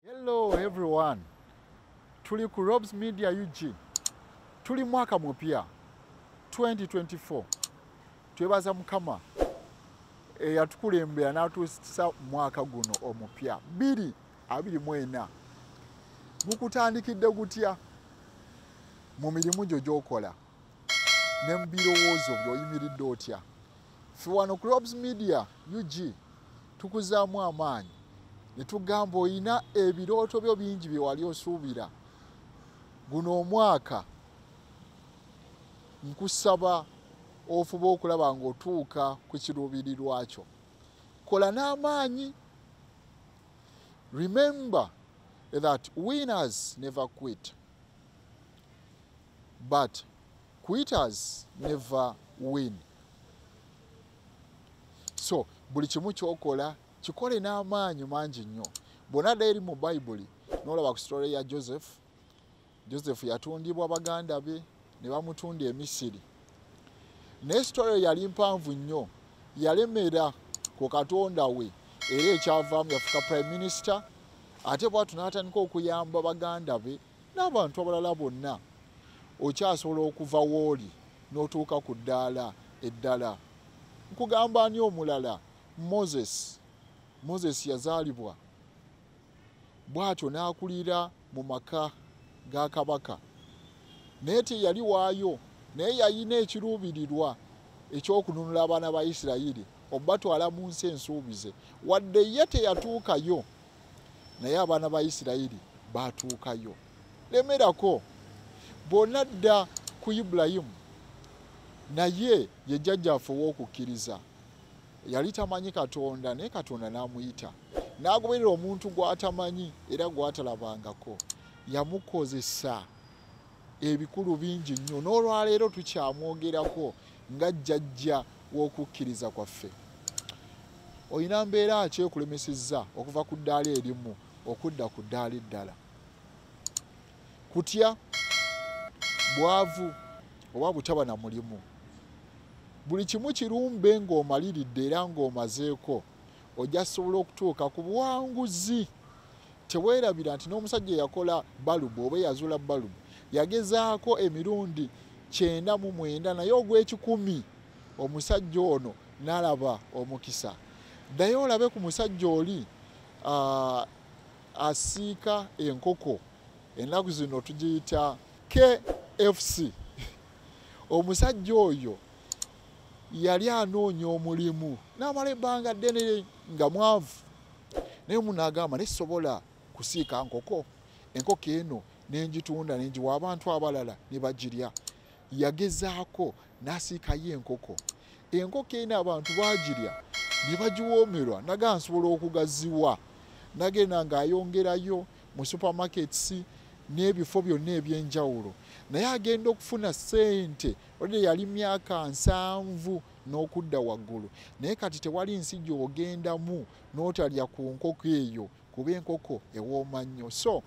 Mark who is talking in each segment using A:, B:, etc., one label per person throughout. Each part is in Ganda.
A: Hello everyone. Tuli ku Robs Media UG. Tuli mwaka mupya 2024. Twebaza mukama eyatukulembera n'atuusa mwaka guno omupya biri abiri mu ena gukutandikidde gutya mu mirimu gyo gy'okola ne mu birowoozo by'oyimiridde otya ffe wano crobs media ug tukuzaamu amaanyi ne tugamba olina ebirooto byo bingi bye wali osuubira guno omwaka nkusaba ofuba okulaba ng'otuuka ku kiruubirirwa kyo kola n'amaanyi remember that winners never quit but quitters never win so buli kimu kyokola kikole n'amaanyi mangi nnyo bwona dda eri mu bayibuli nolaba ku sitole ya joseph joseph yatundibwa baganda be ne bamutunda emisiri naye sitole eyo yali mpanvu nnyo yalemera ku katonda we era ekyavaamu yafuka prime minister ate bwatu n'atandika okuyamba baganda be n'abantu abalala bonna okyasobola okuva wooli n'otuuka ku ddaala eddala nkugamba ani omulala moses moses yazaalibwa bw'atyo n'akulira mu maka ga kabaka naye teyali waayo naye yalina ekiruubirirwa ekyokununula abaana ba isirayiri obatwala mu nsi ensuubize wadde ye teyatuukayo naye abaana ba isirayiri baatuukayo lemerako bonna dda ku ibulayimu naye ye jjajjaffe ow'okukkiriza yali tamanyi katonda naye katonda n'amuyita n'agoberera omuntu gw'atamanyi era gw'atalabangako yamukozesa ebikulu bingi nnyo n'olwaleero tukyamwogerako nga jjajja w'okukkiriza kwaffe olina mbeera ki ekulemesezza okuva ku ddaala erimu okudda ku ddaala eddala kutya bwavu oba butaba na mulimu buli kimu kirumbe ng'omaliridde era ng'omazeeko ojja sobola okutuuka ku buwanguzi teweerabira nti n'omusajja eyakola balubu oba eyazula balubu yagezaako emirundi kyenda mu mwenda naye ogw'ekikumi omusajja ono nalaba omukisa naye olabe ku musajja oli asiika enkoko ennaku zino tugiyita kfc omusajja oyo yali anoonya omulimu n'amala ebbanga ddene nga mwavu naye omu n'agamba naye sobola kusiika nkoko enkoko eno nenjitunda nenjiwa abantu abalala ne bagirya yagezaako n'asiikayo enkoko enkoko eno abantu bagirya ne bagiwoomerwa naga nsobola okugaziwa nagenda ng'ayongerayo mu supermarkets n'ebifo byonna eby'enjawulo naye agenda okufuna ssente olde yali myaka nsanvu n'okudda waggulu naye kati tewali nsi gy'ogendamu n'otalya ku nkoko eyo kuba enkoko ewooma nnyo so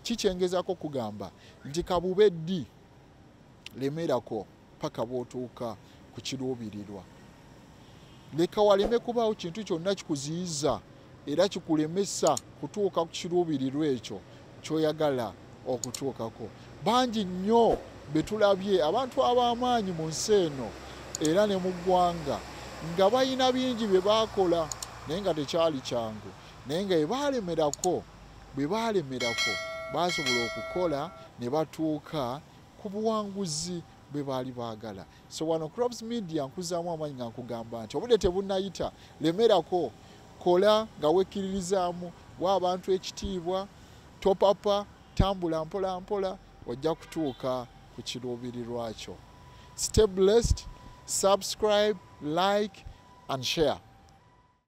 A: kikyengezako kugamba nti kabube ddi lemerako paka bwotuuka ku kiruubirirwa leka waleme kubaawo kintu kyonna kikuziyiza era kikulemesa kutuuka ku kiruubirirwa ekyo kyoyagala okutuukako bangi nnyo betulabye abantu ab'amaanyi mu nsi eno era ne mu ggwanga nga balina bingi bye baakola naye nga tekyali kyangu naye nga ebaalemerako bwe baalemerako baasobola okukola ne batuuka ku buwanguzi bwe baali baagala so wano crops media nkuzaamu amaanyi nga nkugamba nti obudde tebunayita lemerako kola nga wekkiririzaamu wa abantu ekitiibwa topapa tambula mpola mpola ojja kutuuka ku kiruubirirwa kyo stay blessed subscribe like and share